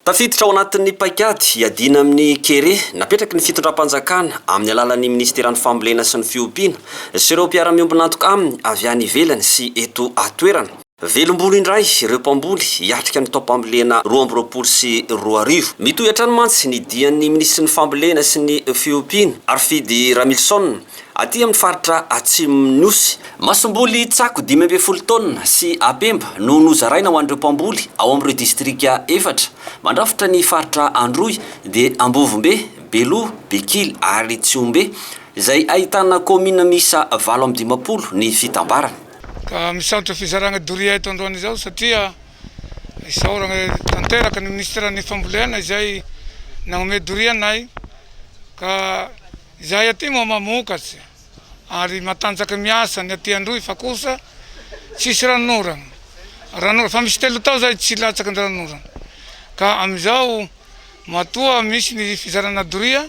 Tafiditra ao anatin'ny paikady hiadiana amin'ny kere napetraky ny fitondram-panjakana amin'ny alalan'ny minisiteran'ny fambolena sy ny fiompiana sy ireo mpiara-miombon'antoka aminy avy any ivelany sy eto an-toerana Velom-bolo indray ireo mpamboly hiatrika ny taom-pambolena roa amby roapolo sy roa arivo. Mitohy hatrany mantsy ny dian'ny minisitry ny Fambolena sy ny fiompiana, Harifidy Ramilison, aty amin'ny faritra atsimon'ny Nosy. Masomboly tsako dimy ambin'ny folo taonina sy apemba no nozaraina ho an'ireo mpamboly ao amin'ireo distrika efatra mandrafitra ny faritra Androy, dia Ambovombe, Beloha, Bekily ary Tsihombe, izay ahitana kaominina miisa valo amby dimampolo ny fitambarany. Ka misaotra fizaragna doria eto androany izao satria isaoragna tanteraka ny minisiteran'ny fambolena izay nagnome doria anay ka izahay aty moa mamokatry ary matanjaka miasa ny aty androy fa kosa tsisy ranonoragna ranonoragna fa misy telo tao zay tsy latsaky ny ranonoragna ka amizao Matoa misy ny fizarana doria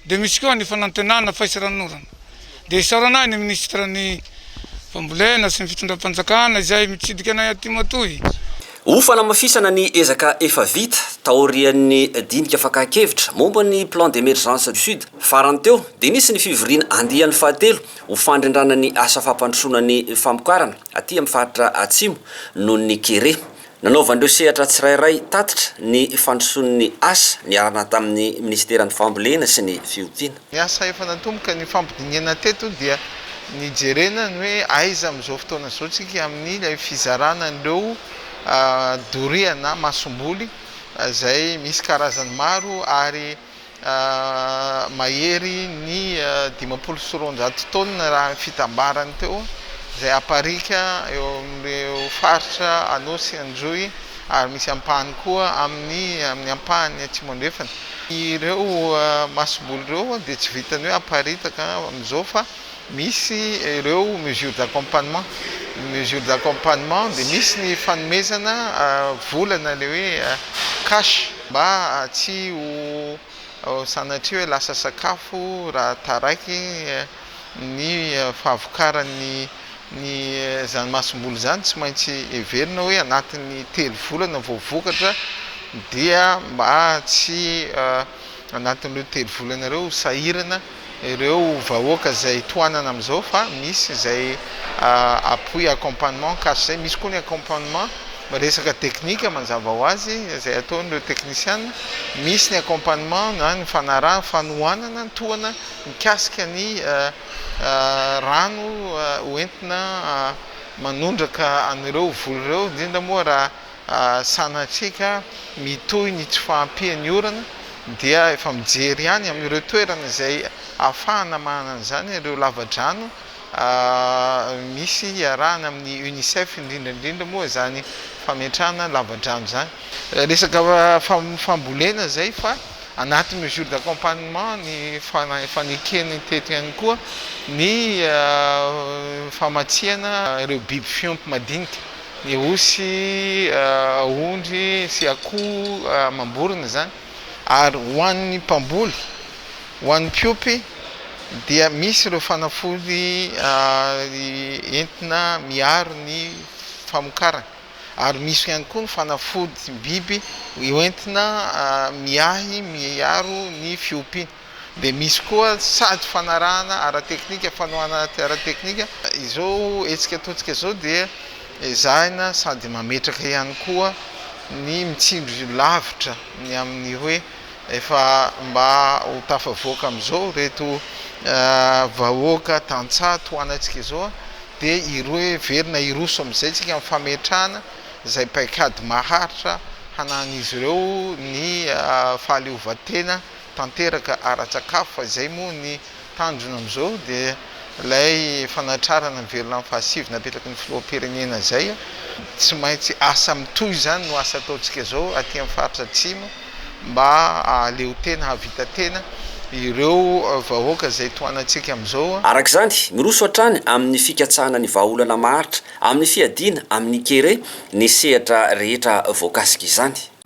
dia misy koa ny fanantenana fahisaranorana. Dia isaorana ahy ny Minisitry ny Fambolena sy ny Fitondram-panjakana izay mitsidika anay aty matoy. Ho fanamafisana ny ezaka efa vita taorian'ny dinika fakan-kevitra momba ny Plan d'Emergence du Sud farany teo dia nisy ny fivoriana andiany fahatelo ho fandrindrana ny asa fampandrosoana ny famokarana aty amin'ny faritra Atsimo noho ny kere Nanaovan'ireo sehatra tsirairay tatitra ny fandrosoan'ny asa niarahana tamin'ny minisiteran'ny Fambolena sy ny Fiompiana. Ny asa efa natomboka nifampidinihana teto dia nijerena ny hoe aiza amin'izao fotoana izao isika amin'ilay fizarana an'ireo doria na masomboly izay misy karazany maro ary mahery ny dimampolo sy roanjato taonina raha ny fitambarany teo izay aparika eo amin'ireo faritra Anosy, Androy ary misy ampahany koa amin'ny amin'ny ampahany atsimo andrefana. Ireo masobolo ireo dia tsy vitan'ny hoe aparitaka amin'izao fa Misy ireo mesures d'accompagnement, ny mesures d'accompagnement dia misy ny fanomezana vola na ilay hoe cash mba tsy ho sanatria hoe lasa sakafo raha taraiky ny fahavokaran'ny ny izany masomboly izany, tsy maintsy heverina hoe anatin'ny telo volana vao vokatra dia mba tsy anatin'ireo telo volana ireo ho sahirana. ireo vahoaka izay tohanana amin'izao fa misy izay appui accompagnement cash izay misy koa ny accompagnement resaka teknika manjava ho azy izay ataon'ireo teknisiana misy ny accompagnement na ny fanaraha fanohanana ny tohana mikasika ny rano hoentina manondraka an'ireo voly ireo indrindra moa raha Sanatria mitohy ny tsy fahampian'ny orana dia efa mijery ihany amin'ireo toerana izay ahafahana manana an'izany ireo lavadrano misy iarahana amin'ny Unicef indrindra indrindra moa izany fametrahana lavadrano izany. Resaka fambolena izay fa anaty mesure d'accompagnement ny fanekeny teto ihany koa ny famatsiana ireo biby fiompy madinika. Ny osy, ondry sy akoho amam-borona izany. Ary ho an'ny mpamboly, ho an'ny mpiompy dia misy ireo fanafody entina miaro ny famokarana. Ary misy ihany koa ny fanafodim-biby hoentina miahy, miaro ny fiompiana. Dia misy koa sady fanarahana ara-teknika, fanohanana ara-teknika. Izao hetsika ataontsika izao dia ezahina sady mametraka ihany koa ny mitsindry lavitra ny amin'ny hoe efa mba ho tafavoaka amin'izao ireto vahoaka tantsaha tohanantsika izao dia heverina hiroso amin'izay isika amin'ny fametrahana izay paikady maharitra hanahan'izy ireo ny fahaleovantena tanteraka ara-tsakafo fa izay moa ny tanjona amin'izao dia ilay fanatrarana ny velona amin'ny fahasivy napetraky ny filoham-pirenena izay tsy maintsy asa mitohy izany no asa ataontsika izao aty amin'ny faritra atsimo mba hahaleo tena hahavita tena ireo vahoaka izay tohanantsika amin'izao. Araka izany, miroso hatrany amin'ny fikatsahana ny vahaolana maharitra amin'ny fiadiana amin'ny kere ny sehatra rehetra voakasika izany.